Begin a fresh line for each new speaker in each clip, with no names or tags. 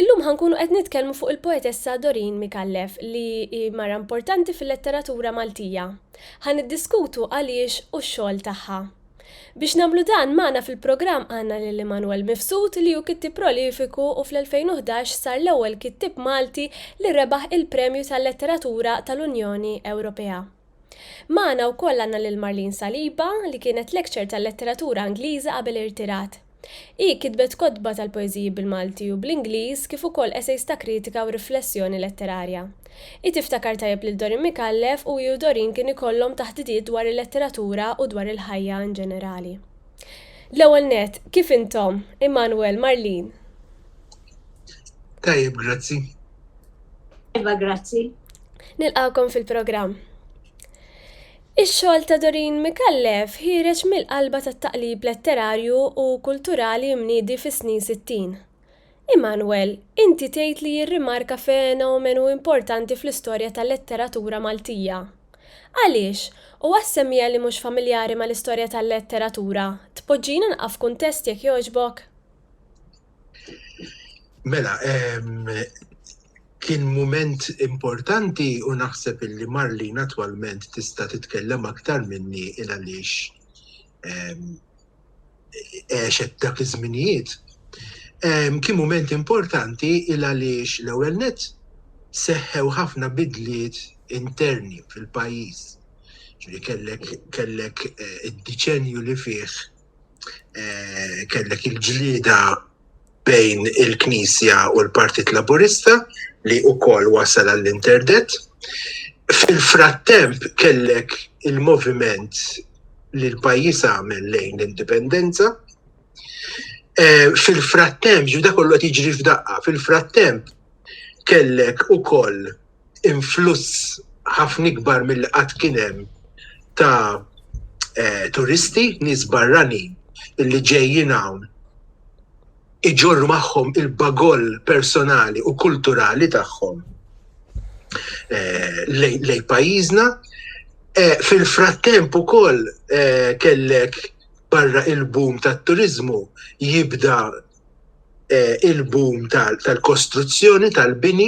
Illum ħa nkunu qed nitkellmu fuq il-poetessa Doreen Micallef li hi mara importanti fil-letteratura Maltija. Ħa niddiskutu għaliex u x-xogħol tagħha. Biex nagħmlu dan magħna fil-programm għandna lil Immanuel Mifsud li hu kittieb prolifiku u fl-2011 sar l-ewwel kittieb Malti li rebaħ il-Premju tal-Letteratura tal-Unjoni Ewropea. Magħna wkoll għandna lil Marlene Saliba, li kienet lecture tal-letteratura Ingliża qabel irtirat. Hi kitbet kotba tal-poeżiji bil-Malti u bl-Ingliż kif ukoll essays ta' kritika u riflessjoni letterarja. Hi tiftakar tajjeb lil Dorin Micallef u hi u Dorin kien ikollhom taħdidiet dwar il-letteratura u dwar il-ħajja in ġenerali. L-ewwel nett, kif intom? Immanuel, Marlene.
Tajjeb, grazzi.
Iva, grazzi. Nilqakom
fil-programm. Ix-xogħol ta' Dorin Mikallef ħireġ mill-qalba tat-taqlib letterarju u kulturali mniedi fis-snin 60. Immanuel, inti tgħid li jirrimarka fenomenu importanti fl-istorja tal-letteratura Maltija. Għaliex, u għas-semmiegħa li mhux familjari mal-istorja tal-letteratura, tpoġġina naqaf f'kuntest jekk jogħġbok?
Mela, kien mument importanti u naħseb illi Marlin attwalment tista' titkellem aktar minni il għaliex għexet dak iż-żminijiet. Kien mument importanti il għaliex l-ewwel net seħħew ħafna bidliet interni fil-pajjiż. Ġifieri kellek kellek id-diċenju li fih eh, kellek il-ġlida bejn il-Knisja u l-Partit Laburista li u kol wasal għall-interdet. Fil-frattemp kellek il-moviment li l-pajis għamel lejn l-indipendenza. Eh, fil-frattemp, ġu kollu tiġri f'daqqa, fil-frattemp kellek u koll influss ħafna ikbar mill qatt kien hemm ta' eh, turisti, nies barranin li ġejjin hawn iġorru magħhom il-bagoll personali u kulturali tagħhom eh, lej pajjiżna. Eh, fil-frattemp ukoll eh, kellek barra il-boom tat-turizmu jibda il-boom tal-kostruzzjoni tal-bini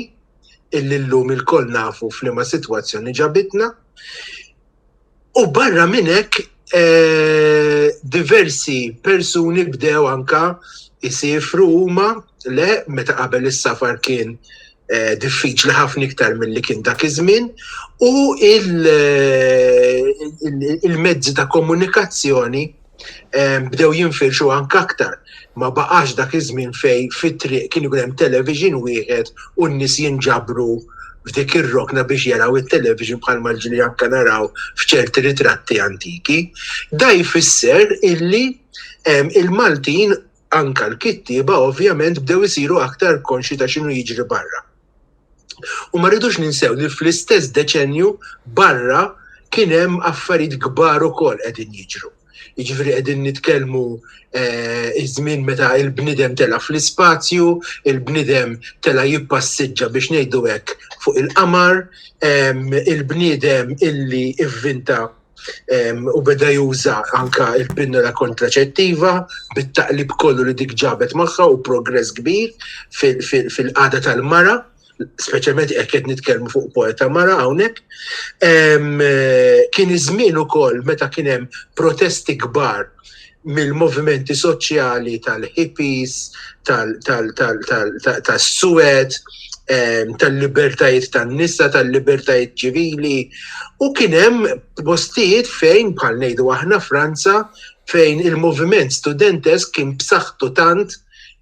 illi llum ilkoll nafu f'liema sitwazzjoni ġabitna. U barra minn hekk eh, diversi persuni bdew anka jisifru huma le meta qabel is-safar kien Eh, diffiċli ħafna iktar mill-li kien dak iż-żmien u eh, il-mezzi ta' komunikazzjoni bdew jinfirxu anke aktar. Ma baqax dak iż-żmien fej fit-triq kien ikun hemm television wieħed u n-nies jinġabru f'dik ir-rokna biex jaraw it-television bħalma ġli anke naraw f'ċerti ritratti antiki. Da jfisser illi il-Maltin anke l-kittieba ovvjament bdew isiru aktar konxi ta' x'inhu jiġri barra. U ma rridux ninsew li fl-istess deċenju barra kien hemm affarijiet kbar ukoll qegħdin jiġru. Jiġifieri qegħdin nitkellmu eh, iż-żmien meta il-bnidem tela' fl-ispazju, il-bnidem tela' jippassiġġa biex ngħidu hekk fuq il-qamar, il-bniedem illi ivvinta u beda juża anka il-pinnola kontraċettiva bit-taqlib kollu li dik ġabet magħha u progress kbir fil-qada tal-mara, speċjalment jekk qed nitkellmu fuq poeta mara hawnhekk. Kien iż-żmien ukoll meta kien hemm protesti kbar mill-movimenti soċjali tal-hippies, tas-suwed, tal-libertajiet tan-nisa, tal-libertajiet ċivili. U kien hemm postijiet fejn bħal ngħidu aħna Franza fejn il-moviment studentesk kien b'saħħtu tant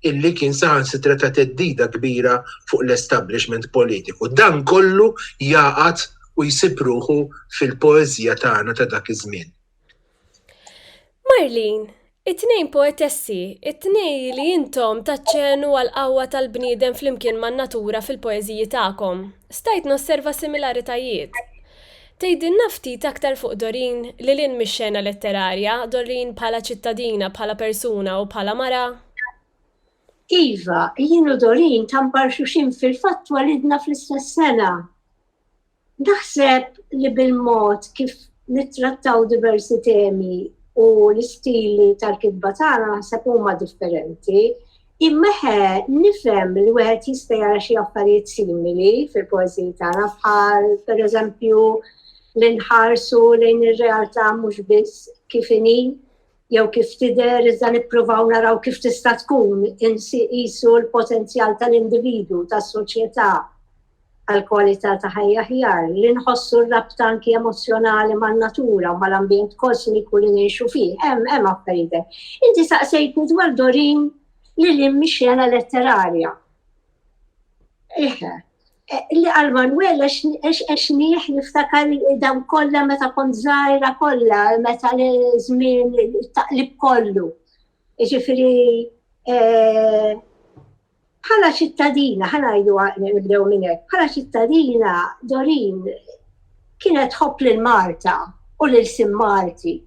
illi kien saħansitra ta' teddida kbira fuq l-establishment politiku. Dan kollu jaqat u jsib ruħu fil-poeżija tagħna ta' dak iż-żmien. Marlene,
It-tnejn poetessi, it-tnej li intom taċċenu għall-qawwa tal-bniedem flimkien man-natura fil-poeżiji tagħkom. Stajt nosserva similaritajiet. Tgħidilna ftit aktar fuq Doreen, lil hinn mix-xena letterarja, Doreen bħala ċittadina, bħala persuna u bħala mara?
Iva, jien u Doreen ta' mbarxuxin fil-fatt twelidna fl-istess sena. Naħseb li bil-mod kif nittrattaw diversi temi u l-istili tal-kitba tagħna naħseb huma differenti. Immeħe nifhem li wieħed jista' jara xi affarijiet simili fil-poeżiji tagħna bħal pereżempju li nħarsu lejn ir-realtà mhux biss kif inhi jew kif tidher iżda nippruvaw naraw kif tista' tkun insiqisu l-potenzjal tal-individu, tas-soċjetà għal kwalità ta' ħajja ħjar, li nħossu r-rabta anki emozzjonali man-natura u mal-ambjent kosmiku li ngħixu fih. Hemm, hemm affarijiet hekk. Inti saqsejtni dwar Dorin li lin mix-xena letterarja. Eħe, Li għal Manuel għax nieħ niftakar dawn kollha meta kont żgħira kollha, meta l-żmien taqlib kollu. Ġifieri eh, bħala ċittadina, ħana jdu nibdew minn hekk, bħala ċittadina Dorin kienet ħobb lil Marta u lil Sim Marti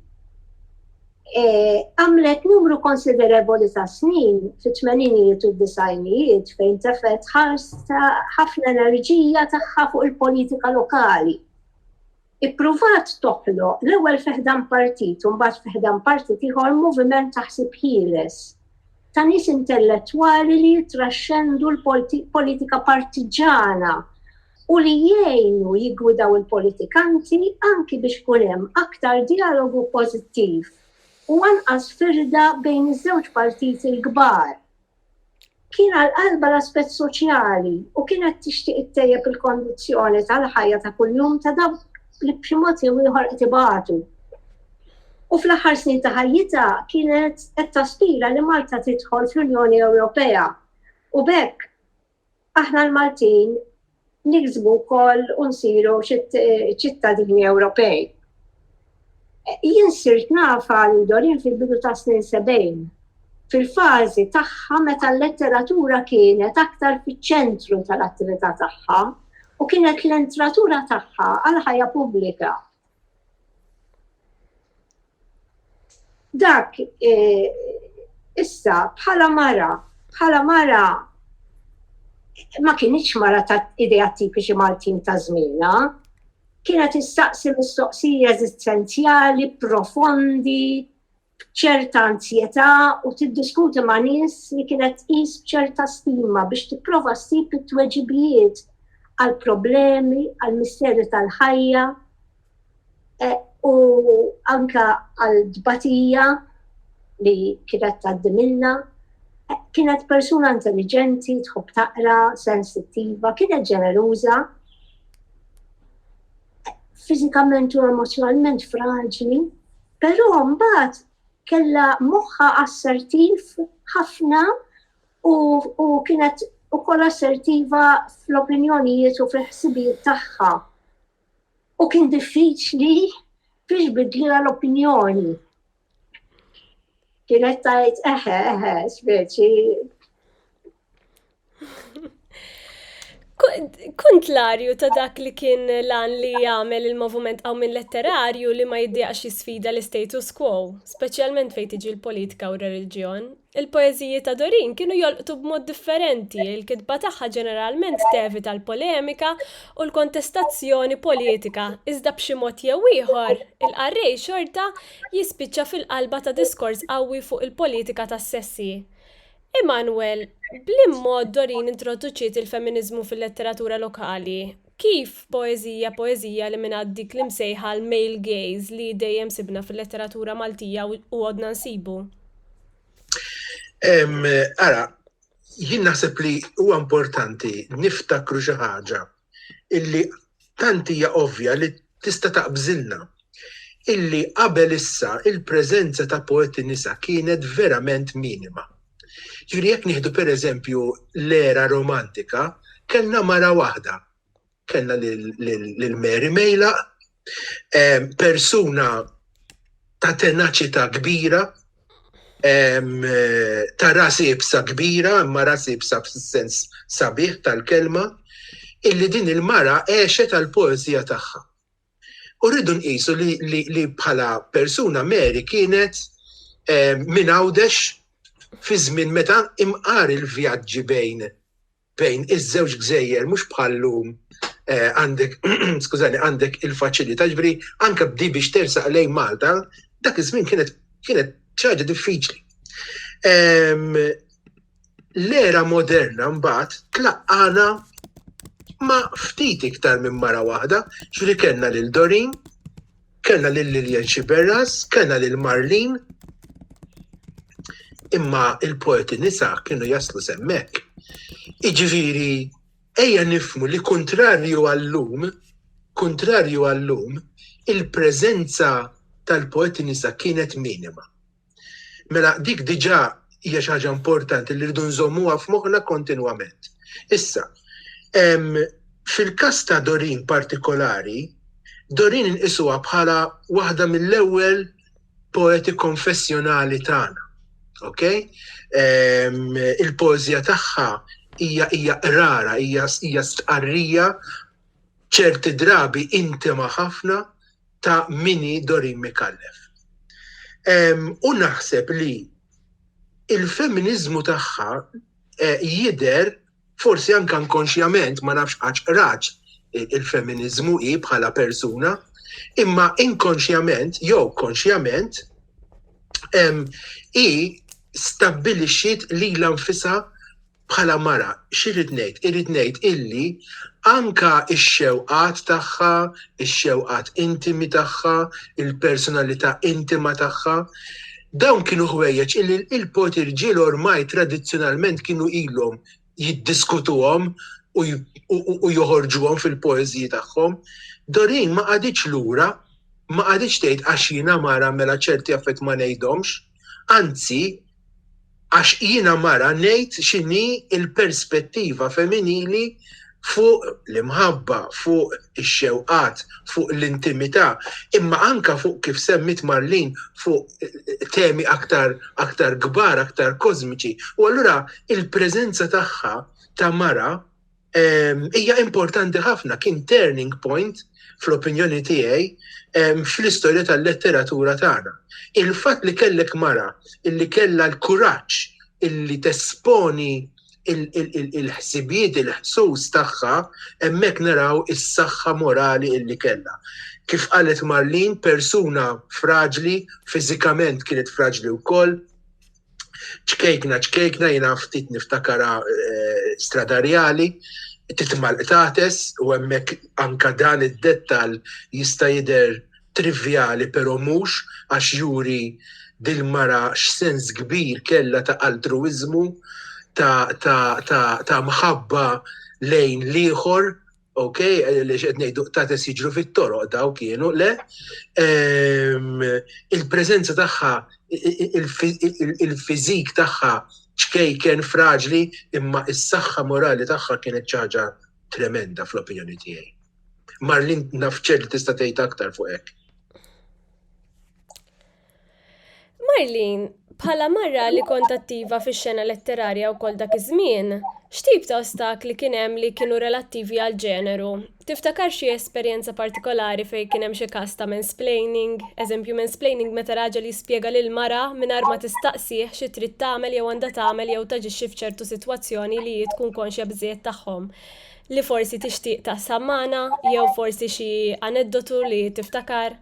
Eh, għamlet numru konsiderevoli ta' snin fit-tmeninijiet u d-disajnijiet fejn tefet ħarsa ħafna enerġija tagħha fuq il-politika lokali. Ippruvat toħlo l-ewwel fiħdan partit u mbagħad fiħdan partit ieħor moviment taħsib ħieles ta' nies intellettwali li jitraxxendu l-politika partiġana u li jgħinu jiggwidaw il-politikanti anki biex ikun hemm aktar dialogu pożittiv u anqas firda bejn iż-żewġ partiti l-kbar. Kien għal qalba l-aspett soċjali u kienet tixtieq ittejjeb il-kondizzjoni tal-ħajja ta' kuljum ta' dawk li b'xi mod jew ieħor qed ibatu. U fl-aħħar snin ta' ħajjitha kienet qed taspira li Malta tidħol fl-Unjoni Ewropea. U bekk aħna l-Maltin niksbu wkoll u nsiru ċittadini Ewropej. Jien sirt naf għal Doreen fil-bidu tas-snin 70, fil-fażi tagħha meta l-letteratura kienet aktar fiċ-ċentru tal-attività tagħha u kienet l-entratura tagħha għal ħajja pubblika. Dak e, issa bħala mara, bħala mara ma kienx mara ta' idea tipiċi Maltin ta' żmiena, kienet issaqsi mistoqsiji eżistenzjali, profondi, ċerta anzjetà u tiddiskuti ma' nies li kienet tqis b'ċerta stima biex tipprova ssib it-tweġibijiet għal problemi, għal misteri tal-ħajja e, u anka għal dbatija li kienet tgħaddi minna. E, kienet persuna intelligenti, tħobb taqra, sensittiva, kienet ġeneruża fiżikament u emozzjonalment fraġli, però mbagħad kellha moħħa assertiv ħafna u, u kienet ukoll assertiva fl-opinjonijiet u fil-ħsibijiet tagħha. U kien diffiċli biex bidlila l-opinjoni. Kienet tajt eħe, eħe, speċi.
Kontlarju ta' dak li kien lan li jagħmel il-moviment għaw minn letterarju li ma jiddiqx jisfida l-status quo, speċjalment fejn tiġi l-politika u r-reliġjon, Il-poeżiji ta' Doreen kienu jolqtu b'mod differenti, il-kitba tagħha ġeneralment tevita l-polemika u l-kontestazzjoni politika, iżda b'xi mod jew ieħor, il-qarrej xorta jispiċċa fil-qalba ta' diskors qawwi fuq il-politika tas-sessi. Immanuel, b'liemod Doreen introduċiet il-feminiżmu fil-letteratura lokali? Kif poeżija poeżija eliminat dik l-imsejħa l-male gaze li dejjem sibna fil-letteratura Maltija u għodna nsibu?
Ara, jien naħseb li huwa importanti niftakru xi ħaġa illi tant hija ovvja li tista' taqbżilna illi qabel issa il-preżenza ta' poeti nisa kienet verament minima. Ġifieri jekk nieħdu pereżempju l-era romantika, kellna mara waħda. Kellna lil Mary Mejlaq, ehm, persuna ta' tenaċità kbira, ehm, ta' ras ibsa kbira, imma ras ibsa fis-sens sabiħ tal-kelma, illi din il-mara għexet għall-poeżija tagħha. U rridu nqisu li bħala persuna Mary kienet eh, minn għawdex fi żmien meta imqar il-vjaġġi bejn bejn iż-żewġ gżejjer mhux bħallum eh, għandek skużani għandek il-faċilità ġbri anke bdi biex tersaq lejn Malta dak iż-żmien kienet kienet ċaġa diffiċli. Ehm, L-era moderna mbagħad tlaqqagħna ma' ftit iktar minn mara waħda, ġifieri kellna lil Doreen, kellna lil Lillian Sciberras, kellna lil Marlene, imma l-poeti nisa kienu jaslu s'hemmhekk. Jiġifieri ejja nifhmu li kuntrarju għal-lum, kuntrarju għal-lum, il-preżenza tal-poeti nisa kienet minima. Mela dik diġà hija xi ħaġa importanti li rridu nżommuha f'moħħna kontinwament. Issa, fil-każ ta' Dorin partikolari, Dorin inqisuha bħala waħda mill-ewwel poeti konfessjonali tagħna. Ok? Il-pożja tagħha hija hija qrara, hija stqarrija ċerti drabi intima ħafna ta' min hi Doreen Micallef. U naħseb li il-feminiżmu tagħha eh, jidher forsi anke inkonxjament ma nafx għax qraċ il-feminiżmu hi bħala persuna, imma inkonxjament jew konxjament hi stabbilixxiet lilha nfisha bħala mara, x'irrid ngħid? Irrid ngħid illi anke x-xewqat tagħha, ix-xewqat intimi tagħha, il-personalità intima tagħha, dawn kienu ħwejjeġ illi l-poeti rġiel ormai tradizzjonalment kienu ilhom jiddiskutuhom u joħorġuhom fil-poeżiji tagħhom. Doreen ma qagħditx lura, ma qagħditx tgħid għax jiena mara mela ċerti affarijiet ma ngħidhomx. Anzi, għax jiena mara ngħid x'inhi l-perspettiva feminili fuq l-imħabba, fuq ix-xewqat, fuq l-intimità, imma anke fuq kif semmiet Marlene fuq temi aktar aktar kbar, aktar kożmiċi. U allura l-preżenza tagħha ta' mara ehm, hija importanti ħafna kien turning point fl-opinjoni tiegħi ehm, fl-istorja tal-letteratura tagħna. Il-fatt li kellek mara illi kellha l-kuraġġ illi tesponi il-ħsibijiet, il-ħsus tagħha, hemmhekk naraw is-saħħa morali illi kellha. Kif qalet Marlin, persuna fraġli, fiżikament kienet fraġli wkoll, ċkejkna ċkejkna jiena ftit niftakara stradarjali titmal qtates u hemmhekk anka dan id-dettall jista' jidher trivjali però mhux għax juri dil-mara x'sens kbir kellha ta' altruwiżmu ta' ta' ta' ta' mħabba lejn l-ieħor ok, li xed nejdu tates jiġru fit-toroq daw kienu, le, ehm, il-prezenza tagħha, il-fizik tagħha ċkejken fraġli, imma is-saħħa morali tagħha kienet ċaġa tremenda fl-opinjoni tiegħi. Marlin nafċer li tista' tgħid aktar fuq hekk.
Marlene, bħala mara li kont attiva fix-xena letterarja wkoll dak iż-żmien, x'tip ta' ostakli kien hemm li kienu relattivi għall-ġeneru? Tiftakar xi esperjenza partikolari fejn kien hemm xi każ ta' mansplaining, eżempju mansplaining meta raġel jispjega lil mara mingħajr ma tistaqsih xi trid tagħmel jew għandha tagħmel jew taġixxi f'ċertu sitwazzjoni li hi tkun konxja biżżejjed tagħhom li forsi tixtieq taqsam magħna jew forsi xi aneddotu li tiftakar?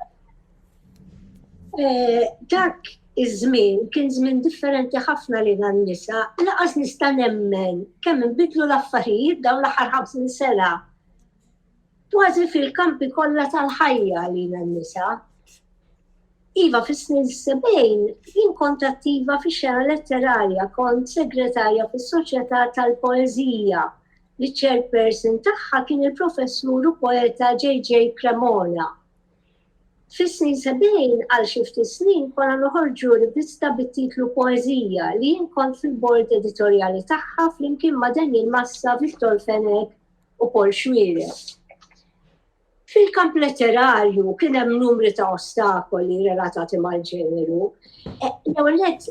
Eh,
dak iż-żmien kien żmien differenti ħafna li dan nisa laqas nista' nemmen kemm inbidlu l-affarijiet dawn l-aħħar 50 sena. Kważi fil-kampi kollha tal-ħajja li dan nisa. Iva fis-snin 70 jien kont attiva fi xena letterarja, kont segretarja fis-Soċjetà tal-Poeżija li chairperson tagħha kien il-professur u poeta J.J. Cremona Fis-snin sebgħin, għal xi ftit snin, konna noħorġu rivista bit-titlu Poeżija li jien kont fil-bord editorjali tagħha flimkien ma' Daniel Massa, Victor Fenech u Paul Xuereb. Fil-kamp letterarju kien hemm numri ta' ostakoli relatati mal-ġeneru. E, l-ewwel nett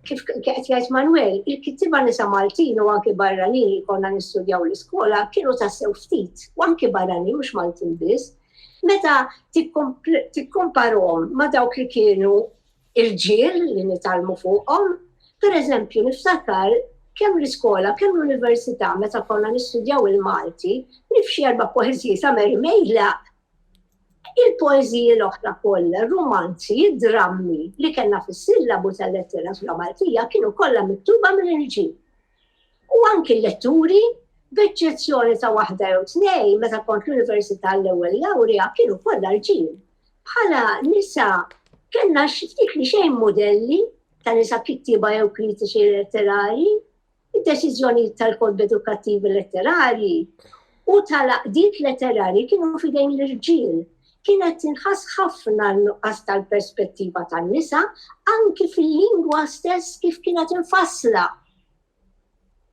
kif qed jgħid Manuel, il-kittiba nisa Maltin u anki barranin li konna nistudjaw l-iskola kienu tassew ftit, u anki barranin mhux Maltin biss, Meta tikkomparom ma' dawk li kienu irġiel li nitalmu fuqhom, per eżempju niftakar kemm l-iskola, kemm l-università meta konna nistudjaw il-Malti, nifxi erba' poeżiji ta' Mary Mejlaq, il-poeżiji l-oħra kollha, r-rumanzi, id-drammi li kellna fis-sillabu tal-letteratura Maltija kienu kollha miktuba minn irġiel. u anki l-letturi, b'eċċezzjoni ta' waħda jew tnejn meta kont l-università l-ewwel lawrja kienu kollha rġiel. Bħala nisa kellna xiftit li xejn modelli ta' nisa kittiba jew kritiċi letterari, id-deċiżjoni tal-kod edukattivi letterari u tal-aqdiet letterari kienu fidejn l-irġiel. kienet tinħass ħafna n-nuqqas tal-perspettiva tan-nisa anki fil-lingwa stess kif kienet infassla.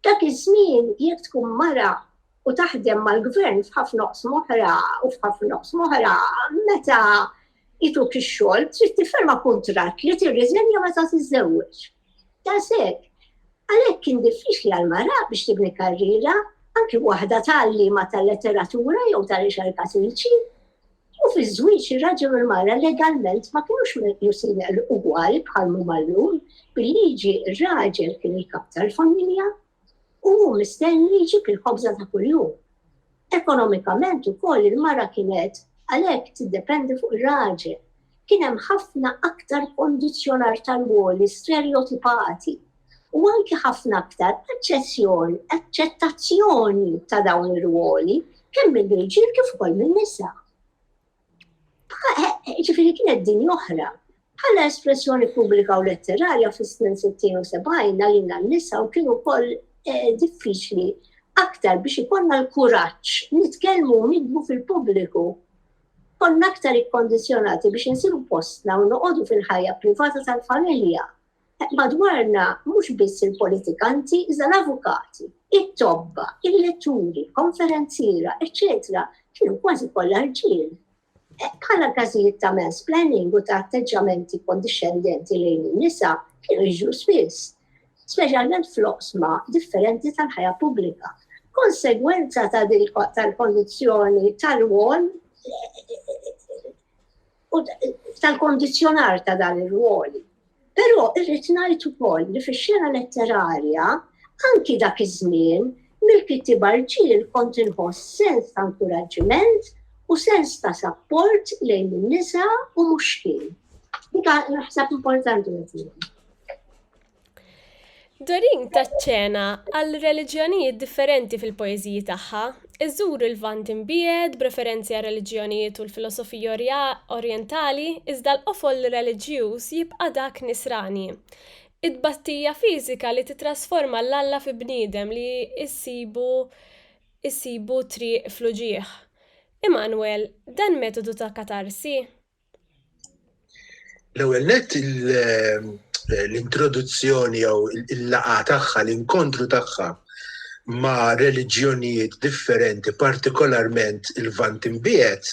Dak iż-żmien jekk tkun mara u taħdem mal-gvern f'ħafna oqs moħra u f'ħafna oqs moħra meta ituk ix-xogħol trid tifferma kuntratt li tirriżenja meta tiżżewweġ. Daqshekk, għalhekk kien diffiċli għal mara biex tibni karriera anki waħda tal-liema tal-letteratura jew tal-riċerka sempliċi. U fiż-żwieġ ir-raġel u l-mara legalment ma kienux meqjusin ugwal bħal mumallum bil-liġi r-raġel kien il-kap tal-familja u hu mistenni jġib il-ħobża ta' kuljum. Ekonomikament ukoll il-mara kienet għalhekk tiddependi fuq ir-raġel. Kien hemm ħafna aktar kondizzjonar tal-woli sterjotipati u anki ħafna aktar aċċettazzjoni ta' dawn ir-rwoli kemm mill-irġiel kif ukoll min-nisa. Ġifiri kienet din oħra. Bħala espressjoni pubblika u letterarja fis-snin 60 u 70 għalina n-nisa u kienu kol eh, diffiċli aktar biex ikonna l-kuraċ nitkellmu nidbu fil-pubbliku. Konna aktar ikkondizjonati biex nsiru postna u noqogħdu fil-ħajja privata tal-familja. Madwarna mhux biss il-politikanti iżda l-avukati, it-tobba, il-letturi, konferenziera, eċċetera kienu kważi kollha rġiel. Bħala każijiet ta' mansplaining u ta' atteġġjamenti kondixxendenti lejn in-nisa kienu jiġru spiss, speċjalment fl-oqsma differenti tal-ħajja pubblika. Konsegwenza ta' tal-kondizzjoni tal-wol u tal-kondizjonar ta' dan ir-ruoli. Però irrid ngħid ukoll li fix-xena letterarja anki dak iż-żmien mill-kittiba rġiel kont inħoss sens ta' inkuraġġiment u sens ta' sapport lejn in-nisa u mhux kien. Dik naħseb importanti
Doreen tat ċena għal reliġjonijiet differenti fil-poeżiji tagħha, iżżur il-Lvant imbiegħed b'referenzi għar-reliġjonijiet u l-filosofija Orjentali iżda l-qofol reliġjuż jibqa' dak Nisrani, it-tbatija fiżika li tittrasforma 'l Alla fi bniedem li jsibu jsibu triq fl-uġigħ. Immanuel, dan metodu ta' katarsi?
L-ewwel nett l-introduzzjoni jew il-laqgħa tagħha, l-inkontru tagħha ma' reliġjonijiet differenti, partikolarment il-Vant imbiegħed,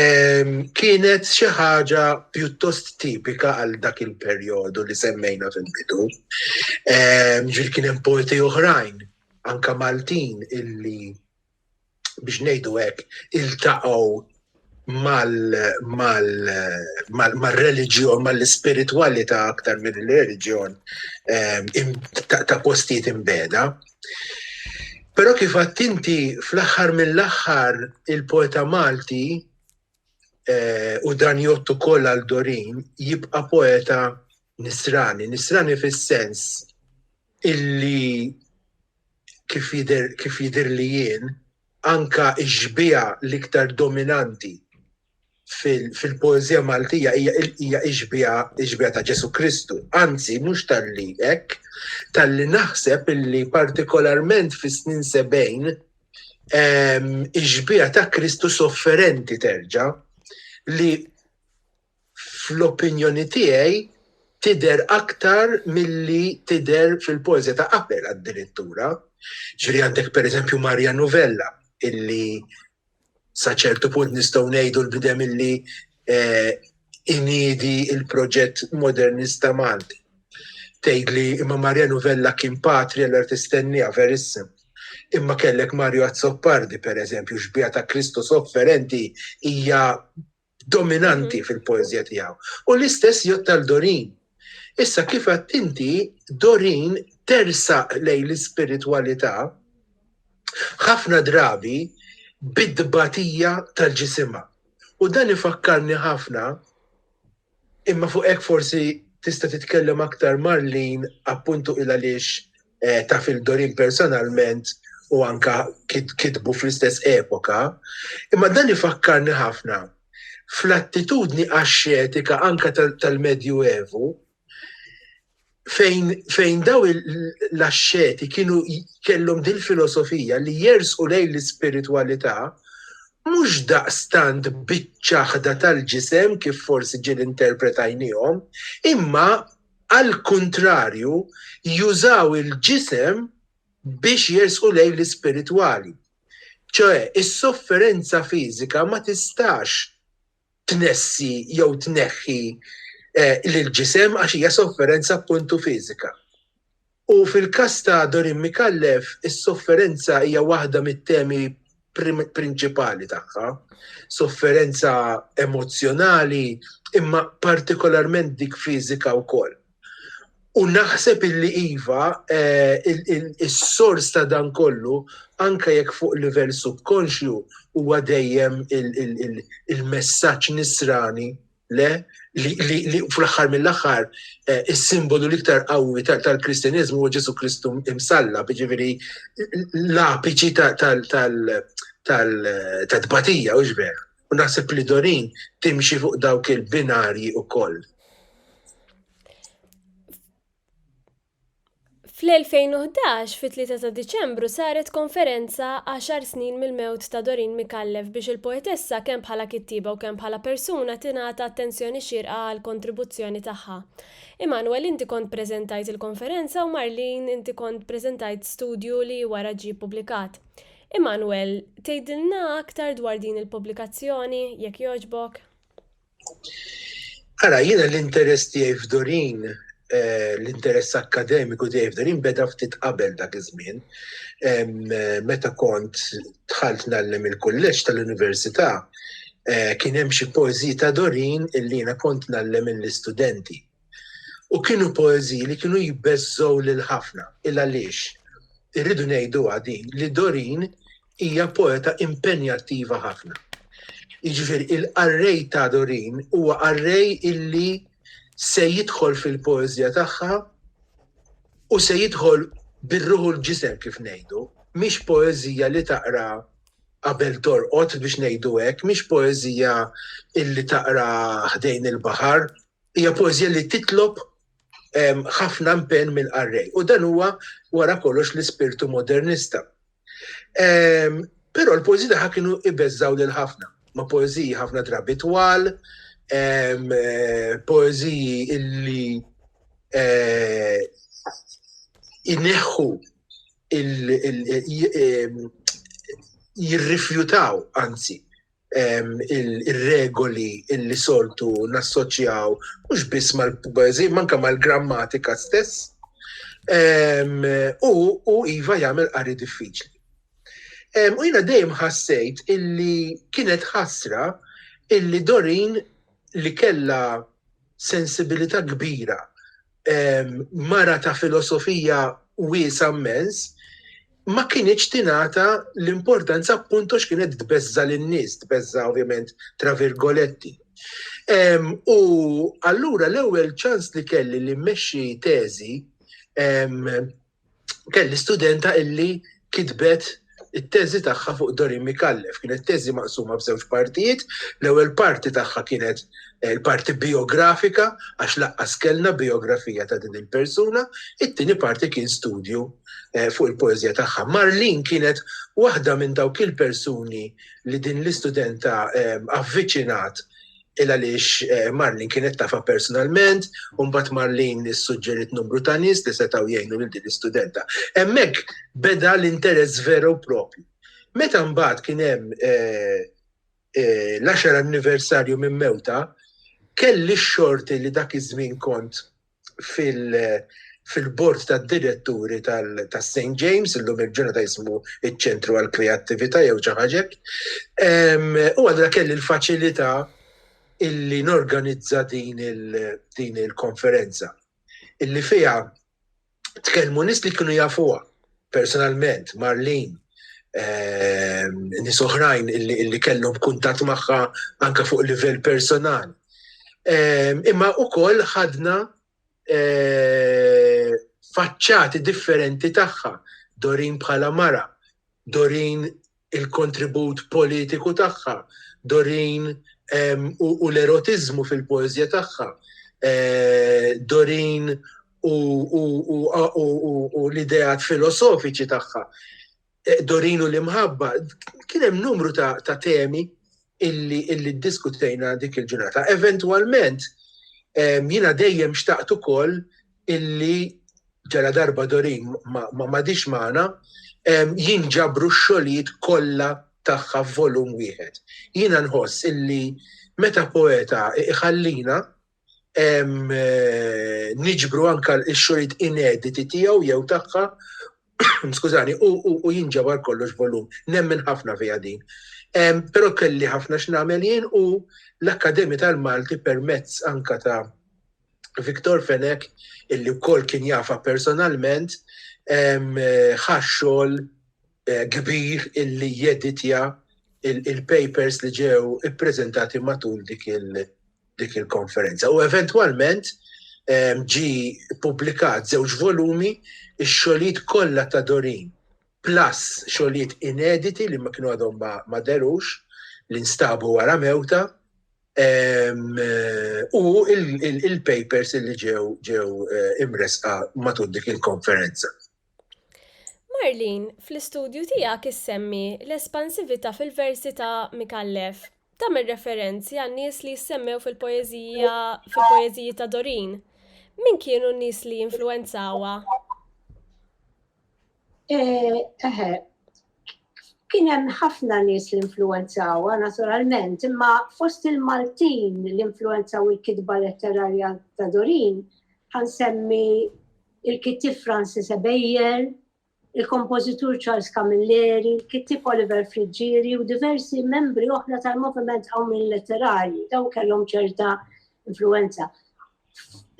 ehm, kienet xi ħaġa pjuttost tipika għal dak il-perjodu li semmejna fil-bidu. Ehm, ġil kien hemm poeti oħrajn, anka Maltin, illi biex ngħidu hekk, iltaqgħu mal-reliġjon, mal-ispiritwalità aktar minn il-reliġjon ehm, ta' postijiet imbeda. Però kif għattinti fl-aħħar mill-aħħar il-poeta Malti eh, u dan jottu koll għal Dorin jibqa' poeta nisrani, nisrani fis-sens illi kif jider, kif jider li jien, anka iġbija l-iktar dominanti fil-poezija fil Maltija hija iġbija iġbija ta' Ġesu Kristu. Anzi, mhux tal-li hekk, tal-li naħseb illi partikolarment fis-snin sebejn iġbija ta' Kristu sofferenti terġa' li fl-opinjoni tiegħi, tidher aktar milli tidher fil-poeżja ta' qabel addirittura. Ġifieri għandek pereżempju Marja Nuvella, illi sa ċertu punt nistgħu ngħidu l-bidem illi eh, inidi il-proġett modernista Malti. Tgħid li imma Marja Nuvella kien patri għal artistennija verissim. Imma kellek Mario Azzopardi, per eżempju, xbija ta' Kristu sofferenti hija dominanti fil-poezija tiegħu. U l-istess jgħod tal-Dorin. Issa kif għadt inti Dorin tersaq lej l-ispiritwalità ħafna drabi bid-dbatija tal-ġisimha. U dan ifakkarni ħafna imma fuq hekk forsi tista' titkellem aktar Marlin appuntu il għaliex eh, ta' fil-Dorin personalment u anka kitbu fl-istess epoka, imma dan ifakkarni ħafna fl-attitudni axxetika anka tal-Medju Evu, fejn, fejn daw l-axxeti kienu kellhom din filosofija li jersqu lejn l-ispiritualità mhux daqstant biċ-ċaħda tal-ġisem kif forsi ġil interpretajnihom, imma Għall-kuntrarju, jużaw il-ġisem biex jersqu lejn l-ispiritwali. Ċoè, is-sofferenza fiżika ma tistax tnessi jew tneħħi l-ġisem għax hija sofferenza appuntu fiżika. U fil-każ ta' Dorin Micallef, is-sofferenza hija waħda mit-temi prinċipali tagħha. Sofferenza emozzjonali imma partikolarment dik fiżika wkoll. U naħseb illi iva, is-sors ta' dan kollu, anke jekk fuq livell subkonxju, huwa dejjem il-messaġġ nisrani. le li fl-aħħar mill-aħħar eh, is-simbolu l-iktar qawwi tal-Kristjaniżmu huwa Ġesu Kristu imsalla, jiġifieri l-apiċi tal-tbatija u ġber. U naħseb li Dorin timxi fuq dawk il-binarji ukoll.
Fl-2011, fit-3 ta' Diċembru, saret konferenza Għaxar Snin mill-Mewt ta' Doreen Micallef biex il-poetessa kemm bħala kittieba u kemm bħala persuna tingħata attenzjoni xierqa għall-kontribuzzjoni tagħha. Immanuel inti kont preżentajt il-konferenza u Marlene inti kont preżentajt studju li wara ġie ppubblikat. Immanuel, tgħidilna aktar dwar din il-pubblikazzjoni, jekk jogħġbok?
Ara, jiena l-interess tiegħi f'Dorin, eh, l-interess akkademiku tiegħi f'Dorin beda ftit qabel dak iż-żmien. Meta kont dħalt nallem il-kulleġġ tal-università, eh, kien hemm xi poeżiji ta' Dorin illi jiena kont nallem lill-istudenti. U kienu poeżiji li kienu jbeżżgħu lil ħafna. Il-għaliex? Irridu ngħiduha din li Doreen hija poeta impenjattiva ħafna. Jiġifieri il-qarrej ta' Doreen huwa qarrej illi se jidħol fil-poeżija tagħha u se jidħol bir-ruħ u l-ġisem kif ngħidu. Mhix poeżija li taqra qabel torqod biex ngħidu hekk, mhix poeżija illi taqra ħdejn il-baħar Hija poeżija li titlob ħafna impenn mill-qarrej u dan huwa wara kollox l-ispirtu modernista. Però l-poeżiji tagħha kienu ibeżżaw lil ħafna, ma' poeżiji ħafna drabi twal, poeżiji illi jneħħu jirrifjutaw anzi ir-regoli illi soltu nassoċjaw mhux biss mal-poeżija, manka mal-grammatika stess. U iva jagħmel qari diffiċli. U jiena dejjem ħassejt illi kienet ħasra illi Dorin li kella sensibilità kbira mara ta' filosofija wiesa' mmens, ma kienieċ tingħata l-importanza appunto x'kienet tbeżża' lin-nies, tbeżża' ovvjament tra virgoletti. U allura l-ewwel ċans li kelli li mmexxi teżi kelli studenta illi kitbet it-teżi tagħha fuq Dorin Mikallef. Kienet teżi maqsuma f'żewġ partijiet, l-ewwel parti tagħha kienet eh, il-parti biografika għax laqqas kellna biografija ta' din il-persuna, it-tieni parti kien studju eh, fuq il-poeżija tagħha. Marlin kienet waħda minn dawk il-persuni li din l-istudenta eh, avviċinat il għaliex eh, Marlin kienet tafa personalment, un bat Marlin suġġerit numru ta' nis li setaw jgħinu lil din l-istudenta. Emmek beda l-interess veru propju. Meta mbagħad kien hemm eh, eh, l-10 anniversarju minn mewta, kelli xorti li dak iż-żmien kont fil-bord tad-diretturi tas-St. James, illum il-ġurnata jismu iċ-ċentru għall-kreattività jew xi ħaġa. U allura kelli l-faċilità illi norganizza din il-konferenza illi fiha tkellmu nies li kienu jafuha personalment, Marlene, nies oħrajn li kellhom kuntatt magħha anke fuq livell personali. Imma ukoll ħadna faċċati differenti tagħha, Dorin bħala mara, Dorin il-kontribut politiku tagħha, Doreen u l-erotiżmu fil-poeżja tagħha, Doreen u l-ideat filosofiċi tagħha, Doreen u l-imħabba, kien hemm numru ta' temi illi ddiskutejna dik il-ġurnata. Eventwalment, jiena dejjem xtaqt ukoll illi ġaladarba Doreen m'għadhiex magħna, jinġabru x-xogħlijiet kollha tagħha f'volum wieħed. Jiena nħoss illi meta poeta jħallina niġbru anke x-xogħlijiet inediti tiegħu jew tagħha, skużani, u jinġabar kollox f'volum. Nemmen ħafna fiha din. Però kelli ħafna x'nagħmel jien u l-Akkademja tal-Malti permezz anke ta' Victor Fenech, illi wkoll kien jafha personalment, ħa xogħol eh, kbir illi jeditja il-papers li ġew ippreżentati matul dik il-konferenza. U eventwalment ġi publikat żewġ volumi ix-xogħlijiet kollha ta' Dorin plus xogħlijiet inediti li ma kienu għadhom ma derux li nstabu wara mewta u il-papers li ġew ġew eh, imresqa matul dik il-konferenza. Marlin,
fl-istudju tiegħek issemmi l-espansività fil-versi ta' Mikallef. Tagħmel referenzi għan nies li jissemmew fil-poeżija fil-poeżiji ta' Dorin. Min kienu n-nies li influenzawa? Eħe,
kien hemm ħafna nies li influenzawha naturalment, imma fost il-Maltin li influenzaw il-kitba letterarja ta' Dorin, ħansemmi il-kittieb Francis Ebejer, il-kompożitur Charles Camilleri, il-kittieb Oliver Friggieri u diversi membri oħra tal-moviment qawmien letterarji, dawn kellhom ċerta influenza.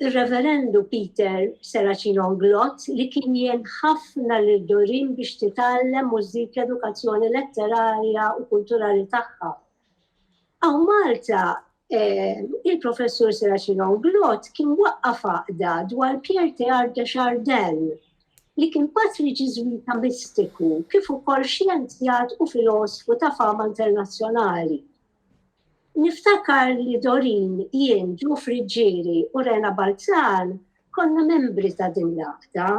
Ir-Reverendu Peter Serracino Nglott li kien jien ħafna lil Doreen biex titgħallem u żżid l-edukazzjoni letterarja u kulturali tagħha. Hawn Malta eh, il-Professur Serracino Nglott kien waqqaf għaqda dwar Pierre Teard de Chardin li kien patri ġiżwita mistiku kif ukoll xjenzjat u filosfu ta' fama internazzjonali. Niftakar li Doreen, jien, Joe Friggieri u Rena Balzan konna membri ta' din l-għaqda.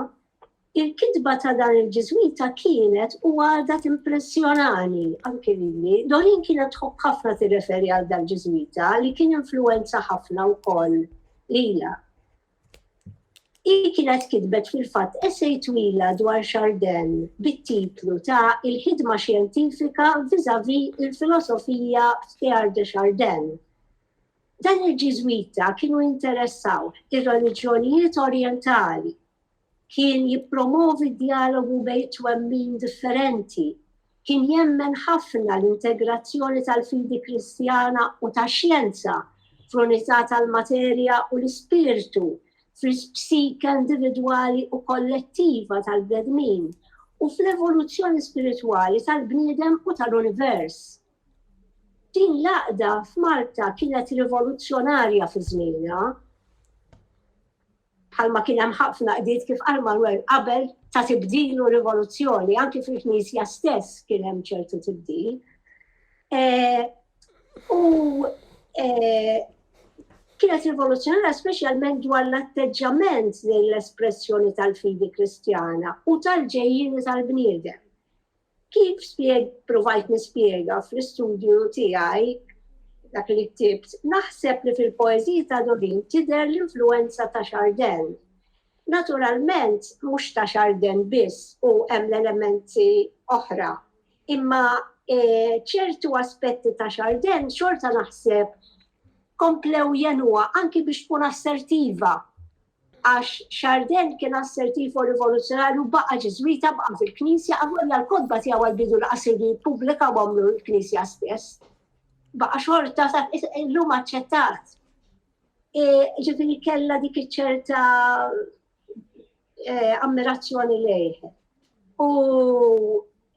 Il-kitba ta' dan il-Ġiżwita kienet u għadha timpressjonani anki lili. Doreen kienet tħobb ħafna tirreferi għal dal-Ġiżwita li kien influwenza ħafna wkoll lilha. Hi kienet kitbet fil-fatt essej twila dwar Chardin bit-titlu ta' Il-ħidma xjentifika vis-à-vis il-filosofija f'Teilhard de Chardin. Dan il-Ġiżwita kienu jinteressawh ir-reliġjonijiet Orjentali. Kien jippromovi d-djalogu bejn twemmin differenti Kien jemmen ħafna l-integrazzjoni tal-fidi Kristjana u tax-xjenza fl-unità tal-materja u l-ispirtu fl-psike individwali u kollettiva tal-bnedmin u fl-evoluzzjoni spiritwali tal-bniedem u tal-univers. Din l-għaqda f'Malta kienet rivoluzzjonarja fi żmienha. bħalma kien hemm ħafna qdiet kif qal Manwel qabel ta' tibdil u rivoluzzjoni, anki fil-Knisja stess kien hemm ċertu tibdil. Eh, u eh, kienet rivoluzzjonarja speċjalment dwar l-atteġġament l-espressjoni tal-fidi kristjana u tal-ġejjini tal-bniedem. Kif ppruvajt nispjega fl-istudju tiegħi dak li ktibt, naħseb li fil-poeżiji ta' Dorin tidher l-influwenza ta' Chardin. Naturalment mhux ta' Chardin biss u hemm l-elementi oħra, imma ċertu aspetti ta' Chardin xorta naħseb komplew jegħnuha anki biex tkun assertiva. għax Chardin kien assertiv u rivoluzzjonarju baqa' Ġiżwita baqa' fil-Knisja għavolja l-kotba tiegħu għall-bidu laqas irdu jippubblika u għamlu l-Knisja stess. Baqa' xorta ta' illum aċċettat. E, ġifieri kellha dik iċ-ċerta e, ammirazzjoni lejh. U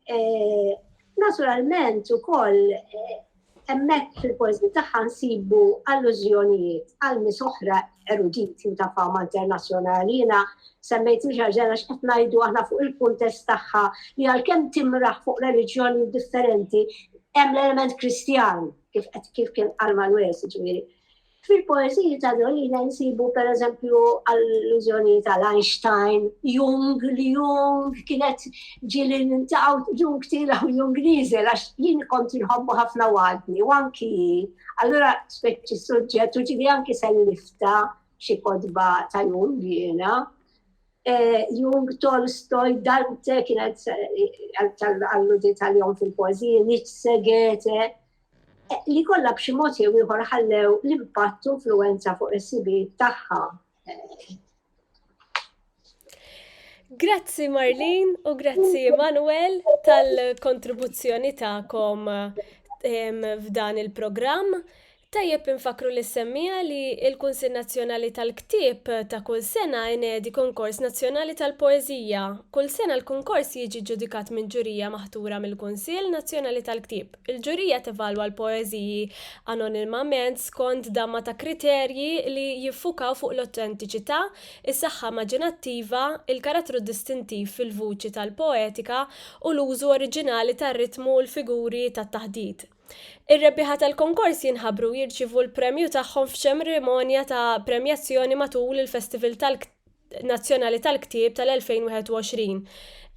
Eh, naturalment ukoll eh, hemmhekk fil-poeżi tagħha nsibu allużjonijiet għal nies oħra eruditi ta' fama internazzjonali. Jiena semmejt miġarġena x'qed ngħidu aħna fuq il-kuntest tagħha li għalkemm timraħ fuq reliġjoni differenti hemm l-element Kristjan kif qed kif kien għal Malwes ġifieri. Fil-poeżiji ta' Dolina nsibu pereżempju allużjonijiet għal Einstein, Jung, li Jung kienet ġieli nintaqgħu Jung tila u Jung nieżel għax jien kont inħobbu ħafna u għadni u anki hi. Allura speċi suġġett u ġieli anki sellifta xi kotba ta' Jung jiena. Eh, Jung, Tolstoj, Dante kienet eh, tal-alludi tal-jom fil-pożi, Nietzsche, Goethe, li kollha b'xi mod jew ieħor ħallew l-impatt u influwenza fuq is-sibijiet tagħha.
Grazzi Marlin u grazzi Manuel tal-kontribuzzjoni ta'kom f'dan il-programm. Tajjeb infakru li semmija li il-Kunsil Nazzjonali tal-Ktib ta' kull sena inedi konkors nazzjonali tal-poezija. Kull sena l-konkors jiġi ġudikat minn ġurija maħtura mill-Kunsil Nazzjonali tal-Ktib. Il-ġurija tevalwa l-poeżiji anonimament skond damma ta' kriterji li jiffukaw fuq l-awtentiċità, is-saħħa immaġinattiva, il-karattru distintiv fil-vuċi tal-poetika u l-użu oriġinali tar-ritmu u l-figuri tat-taħdit. Ir-rebbieħa tal-konkors jinħabru u jirċievu l-premju tagħhom f'ċemrimonja ta' premjazzjoni matul il-Festival tal-Ktieb. nazzjonali tal-ktieb tal-2021.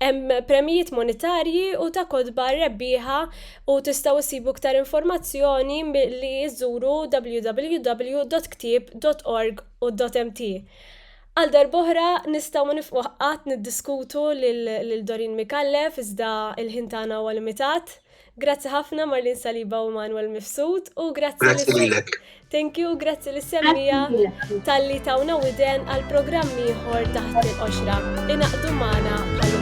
Hemm premjijiet monetarji u ta' kotba rebbieħa u tistgħu issibu iktar informazzjoni li żuru www.ktieb.org u .mt. Għal darboħra nistgħu ma nifqu qatt niddiskutu lil Dorin Micallef iżda l-ħin tagħna huwa limitat. Grazzi ħafna Marlin Saliba u Manuel Mifsud u grazzi Grazzi lilek.
Thank you, grazzi
lis semmija tal-li tawna widen għal programm ieħor taħt il-qoxra. Inaqdu magħna għal